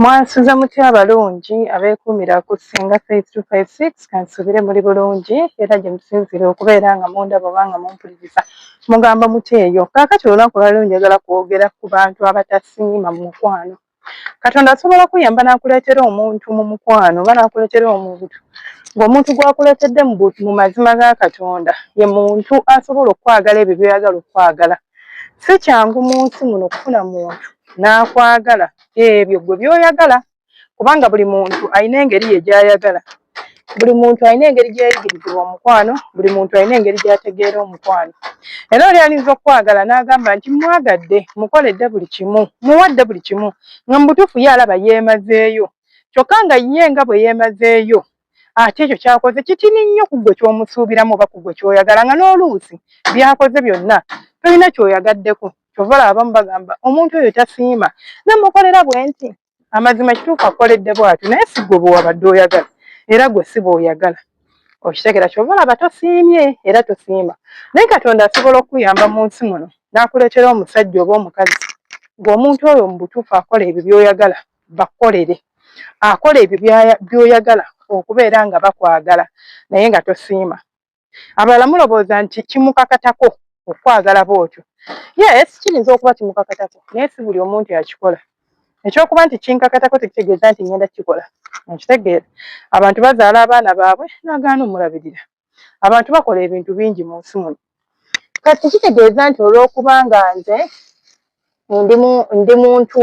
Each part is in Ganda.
mwansuza mutya abalungi abeekuumira ku ssinga faith two five six kansuubire muli bulungi era gye musinziire okubeera nga mundaba oba nga mumpuliriza mugamba mutya eyo kaakati olunaku lwali njagala kwogera ku bantu abatasiima mu mukwano katonda asobola kuyamba nakuleetera omuntu mu mukwano oba nakuleetera omuntu ng'omuntu gwakuleetedde mu mazima ga katonda ye muntu asobola okukwagala ebyo byoyagala okukwagala si kyangu mu nsi muno okufuna muntu n'akwagala ebyo gwe byoyagala kubanga buli muntu alina engeri ye gyayagala buli muntu alina engeri gyeyayigirizibwa omukwano buli muntu alina engeri gyategeera omukwano era oli ayinza okukwagala n'agamba nti mwagadde mukoledde buli kimu muwadde buli kimu nga mu butuufu ye alaba yeemazeeyo kyokka nga ye nga bwe yeemazeeyo ate ekyo kyakoze kitini nnyo ku gwe ky'omusuubiramu oba ku gwe ky'oyagala nga n'oluusi byakoze byonna tolina ky'oyagaddeko kyova laba abamu bagamba omuntu oyo tasiima namukolera bwe nti amazima kituufu akoledde bwati naye si gwe bwewabadde oyagala era gwe si bweoyagala okitegera kyova olaba tosiimye era tosiima naye katonda asobola okukuyamba mu nsi muno n'akuleetera omusajja oba omukazi ng'omuntu oyo mu butuufu akola ebyo by'oyagala bakukolere akola ebyo by'oyagala okubeera nga bakwagala naye nga tosiima abalala mulowooza nti kimukakatako okwagala bwotyo yes kiyinza okuba kimukakatako naye si buli omuntu yakikola ekyokuba nti kinkakatako tekitegeeza nti ngenda kikola nkitegeera abantu bazaala abaana baabwe nagaana omulabirira abantu bakola ebintu bingi mu nsi muno kati kitegeeza nti olwokubanga nze ndi muntu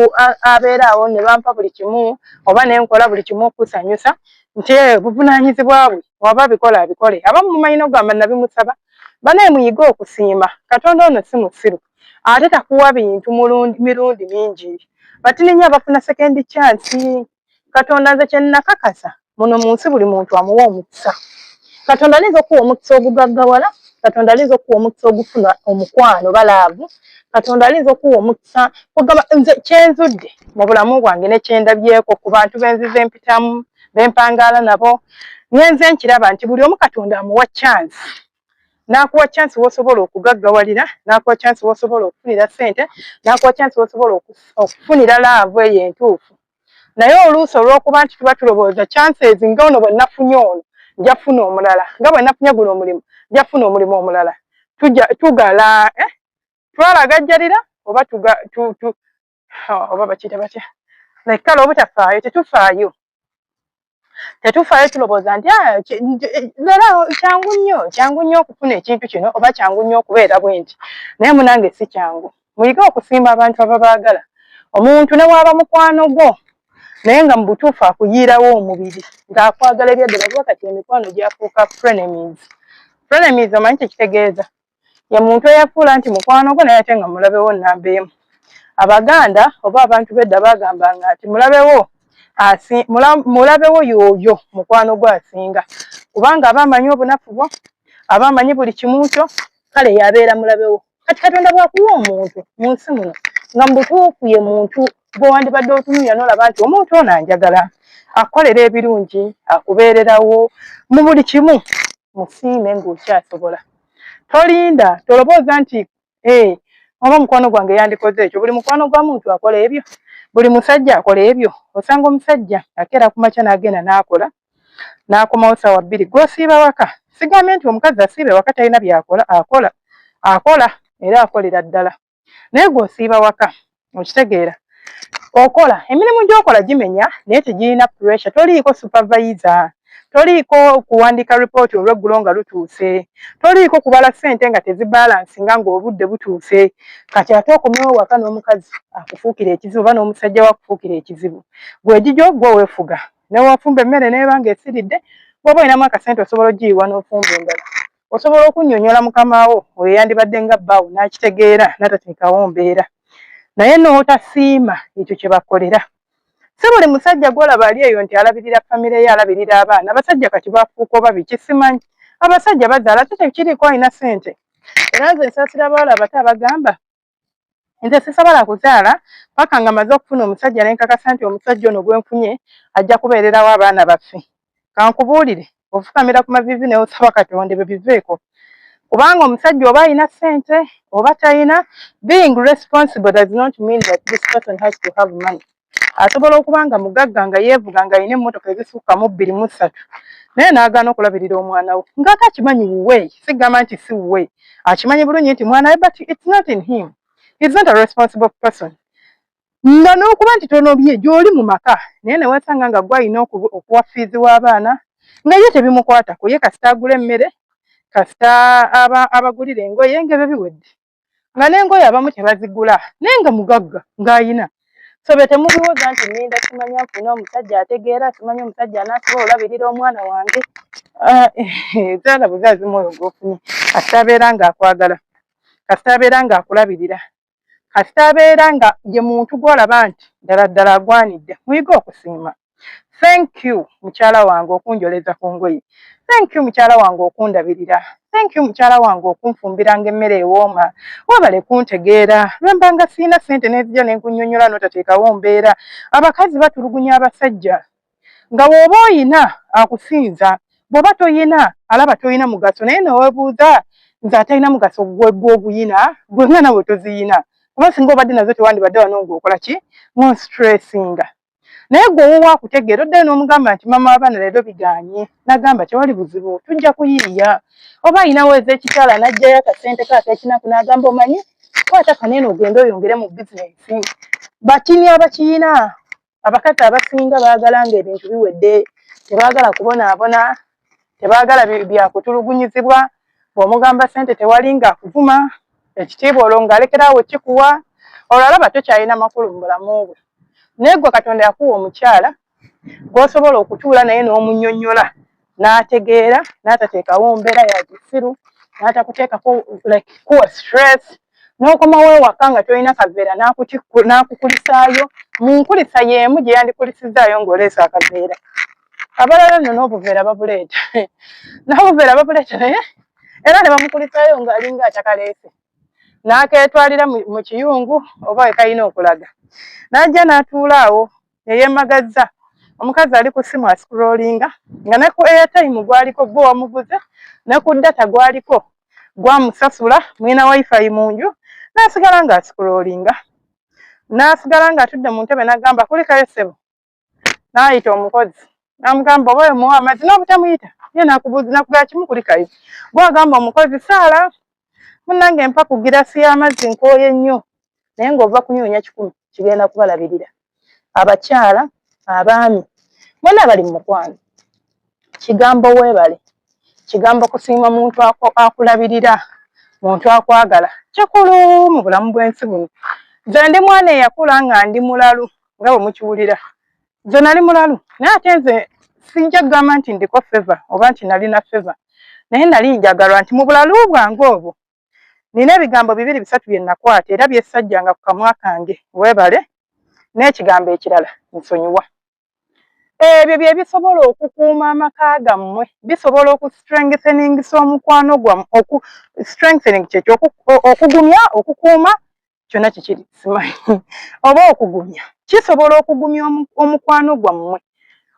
abeera awo ne bampa buli kimu oba ne nkola buli kimu okusanyusa nti eh, buvunaanyizibwa bwe waba abikola abikole abamu mumanyi nokugamba nabimusaba banaye muyige okusiima katonda ono si musiru ate takuwa bintu mirundi mingi batininya abafuna sekendi kyansi katonda nze kyenakakasa muno mu nsi buli muntu amuwa omukisa katonda ayinza okuwa omukisa ogugaggawala katonda ayinza okuwa omukisa ogufuna omukwano balaavu katonda ayinza okuwa omukisa ogamba nze kyenzudde mu bulamu bwange nekyendabyeko ku bantu benziza empitamu bempangaala nabo ngenze nkiraba nti buli omu katonda amuwa kyansi n'akuwa chance w'osobola okugaggawalira n'akuwa chance w'osobola okufunira ssente n'akuwa chance w'osobola okufunira laavu eyo entuufu naye oluusi olw'okuba nti tuba tulowooza chances nga ono bwe nafunye ono nja kufuna omulala nga bwe nafunye guno omulimu nja kufuna omulimu omulala tugala eh, twalagajjalira oba oba bakiyita batya like kale obutafaayo tetufaayo tetufaayo tulowooza nti ah, lera kyangu nnyo kyangu nnyo okufuna ekintu kino oba kyangu nnyo okubeera bwenti naye munange si kyangu muyige okusiima abantu ababaagala omuntu ne waaba mukwano gwo naye nga mu butuufu akuyiirawo omubiri ng'akwagala ebyaddala kuba kati emikwano gyafuuka frenemies frenemies omanyi kyekitegeeza ye muntu eyafuula nti mukwano gwo naye ate nga mulabewo namba emu abaganda oba abantu bedda bagambanga nti mulabewo mulabewo yooyo mukwano gwo asinga kubanga aba amanyi obunafu bwo aba amanyi buli kimu kyo kale yabeera mulabewo kati katonda bwakuwa omuntu mu nsi muno nga mubutuufu ye muntu gwe wandibadde otunulira nolaba nti omuntu ono anjagala akukolera ebirungi akubeererawo mu buli kimu musiime ngaokyasobola tolinda tolobooza nti eh, oba omukwano gwange yandikoze ekyo buli mukwano gwa muntu akola ebyo buli musajja akola ebyo osanga omusajja akeera ku makya n'agenda n'akola n'akomawo saawa bbiri gwosiiba waka sigambye nti omukazi asiibe waka talina byakola akola akola era akolera ddala naye gwe osiiba waka okitegeera okola emirimu gyokola gimenya naye tegirina pressure toliiko supervisor toliiko kuwandiika report olweggulo nga lutuuse toliiko kubala sente nga tezibalansi nga ngaobudde butuuse kati ate okomewo waka n'omukazi akufuukira ekizibu oba n'omusajja we akufuukira ekizibu gwegigyo gwe wefuga newofumba emmere nebanga esiridde bwoba olinamu akasente osobola ogiyiwa n'ofumba endala osobola okunnyonnyola mukama wo oyo yandibadde nga bbaawo n'akitegeera n'atateekawo mbeera naye n'otasiima ekyo kye bakolera si buli musajja gwolaba ali eyo nti alabirira famire ye alabirira abaana abasajja kati bafuuka oba biki simanyi abasajja bazaala ate tekiriiko alina sente era nze nsaasira abawala abato abagamba nze sisobola kuzaala paka nga maze okufuna omusajja nenkakasa nti omusajja ono gwenfunye ajja kubeererawo abaana baffe kankubuulire ofukamira ku mavivi neosaba katonda ebyo biveeko kubanga omusajja oba alina sente oba talina being responsible does not mean that this person has to have money asobola okuba nga mugagga nga yeevuga nga alina emmotoka ezisukka mu bbiri mu ssatu naye n'agaana okulabirira omwana we ng'ate akimanyi wuwe sigamba nti si wuwe akimanyi bulungi nti mwana we but it's not in him is not a responsible person nga n'okuba nti tonobye gy'oli mu maka naye ne weesanga nga gwe alina okuwa fiizi w'abaana nga ye tebimukwatako ye kasita agula emmere kasita abagulira engoye ng'ebyo biwedde nga nengoyo abamu tebazigula naye nga mugagga ngaayina sobe temubiwoza nti ninda kimanya nfuna omusajja ategeera kimanya omusajja anasobola olabirira omwana wange ah, zaala buzazi mwoyo gwofunye kasita abeera nga akwagala kasita abeera nga akulabirira kasita abeera nga ye muntu gwolaba nti ddala ddala agwanidde muyige okusiima thank you mukyala wange okunjoleza ku ngoye thank you mukyala wange okundabirira thank you mukyala wange okunfumbiranga emmere ewooma webale kuntegeera lwembanga siina sente nezija nenkunyonyola notateekawo mbeera abakazi batulugunya abasajja nga woba oyina akusinza bwoba toyina alaba toyina mugaso naye newebuuza nze atalina mugaso gwegwoguyina gwengana wetoziyina kuba singa obadde nazo tewandibadde wano ngaokola ki monstressinga naye gwe owuwo akutegeera oddayo n'omugamba nti mama wabaana leero biganye nagamba tewali buzibu tujja kuyiiya oba ayinawo eza ekikyala najjayo akasente ka akekinaku nagamba omanyi kwata kaneena ogende oyongere mu bizinensi batini abakiyina abakazi abasinga baagala nga ebintu biwedde tebaagala kubonaabona tebagala byakutulugunyizibwa bwomugamba sente tewali nga akuvuma ekitiibwa olwo ngaalekerawo kikuwa olwo alaba tokyalina makulu mu bulamu bwe naye gwe katonda yakuwa omukyala gwosobola okutuula naye n'omunyonyola n'ategeera n'atateekawo mbeera ya kisiru n'atakuteekako like kuwa stress n'okomawo ewaka nga tolina kaveera n'akukulisaayo mu nkulisa y'emu gye yandikulisizzaayo ng'oleese akaveera abalala nno n'obuveera babuleeta naye obuveera babuleeta naye era ne bamukulisaayo ng'alinga atakaleese n'akeetwalira mu kiyungu oba we kalina okulaga n'ajja n'atuula awo eyemagazza omukazi ali ku simu asikulolinga nga ne ku airtime gwaliko gwe wamuguze ne ku data gwaliko gwamusasula mwina wifi mu nju nasigala nga asikulolinga nasigala nga atudde mu ntebe nagamba kulikayo ssebo nayita omukozi namugamba oba omuwa amazzi nobutamuyita ye nakubuuzi nakugala kimu kulikayo gwagamba omukozi saala munange mpa ku girasi y'amazzi nkooye nnyo naye ng'ova kunyoonya kikumi kigenda kubalabirira abakyala abaami mwena bali mu mukwano kigambo weebale kigambo kusiima muntu akulabirira muntu akwagala kikulu mu bulamu bw'ensi buno nze ndi mwana eyakula nga ndi mulalu nga bwe mukiwulira nze nali mulalu naye ate nze sijja kugamba nti ndiko feva oba nti nalina feva naye nali njagalwa nti mu bulalu bwange obwo nina ebigambo bibiri bisatu bye nakwata era byesajjanga ku kamwa kange webale n'ekigambo ekirala nsonyiwa ebyo bye bisobola okukuuma amaka gammwe bisobola okustrengtheningsa omukwano gwamu strengthening kyekyo okugumya okukuuma kyonna kikiri simanyi oba okugumya kisobola okugumya omukwano gwammwe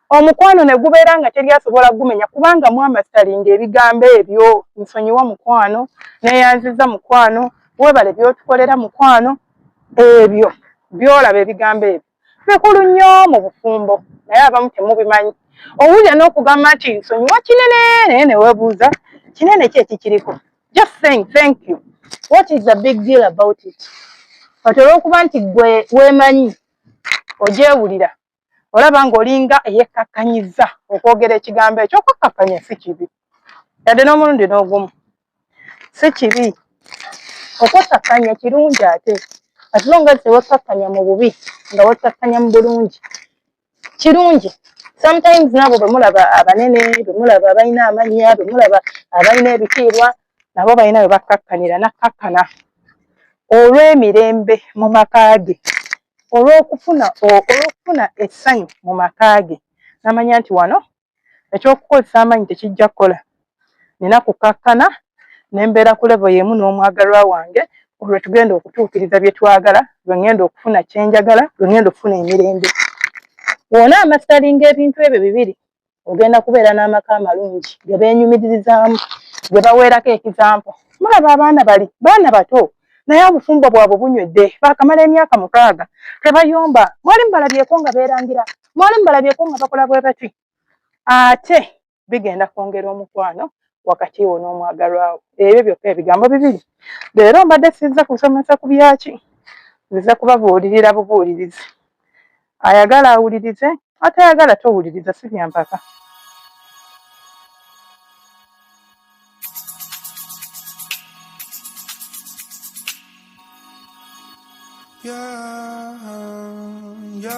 omukwano ne gubeera nga teri asobola gumenya kubanga mwamasalinga ebigambo ebyo nsonyiwa mukwano neyanziza mukwano webale byotukolera mukwano ebyo byolaba ebigambo ebyo Kikulu nnyo mu bufumbo naye abamu temubimanyi. Owulira n'okugamba nti nsonyiwa kinene naye ne weebuuza kinene ki ekikiriko. Just saying thank you. What is the big deal about it? Kati olw'okuba nti gwe weemanyi ogyewulira olaba ng'olinga eyekkakkanyiza okwogera ekigambo ekyo okukkakkanya si kibi yadde n'omulundi n'ogumu. si kibi okwekkakkanya kirungi ate atilonga nti wekkakkanya mu bubi nga wekkakkanya mu bulungi kirungi sometimes nabo bemulaba abanene bemulaba abalina amannya bemulaba abalina ebitiibwa nabo balina bwe bakkakkanira nakkakkana olw'emirembe mu maka ge olw'okufuna olw'okufuna essanyu mu maka ge namanya nti wano Eky'okukozesa amaanyi tekijja kukola. Nnina kukkakkana ne mbeera ku levo y'emu n'omwagalwa wange, olwo lwe tugenda okutuukiriza bye twagala, lwe ŋŋenda okufuna kye njagala, lwe ŋŋenda okufuna emirembe. Bw'ona amasitalinga ebintu ebyo bibiri, ogenda kubeera n'amaka amalungi ge beenyumiririzaamu, ge baweerako ekizampo. Mulaba abaana bali baana bato, naye obufumbo bwabwe bunywedde, baakamala emyaka mukaaga tebayomba. Mwali mubalabyeko nga beerangira? mwali mubalabyeko nga bakola bwe bati ate bigenda kwongera omukwano wakati wo n'omwagalwawo ebyo byokka ebigambo bibiri leero mbadde sizza kusomesa ku byaki nziza kubabuulirira bubuulirizi ayagala awulirize atayagala towuliriza si byampaka Yeah, yeah.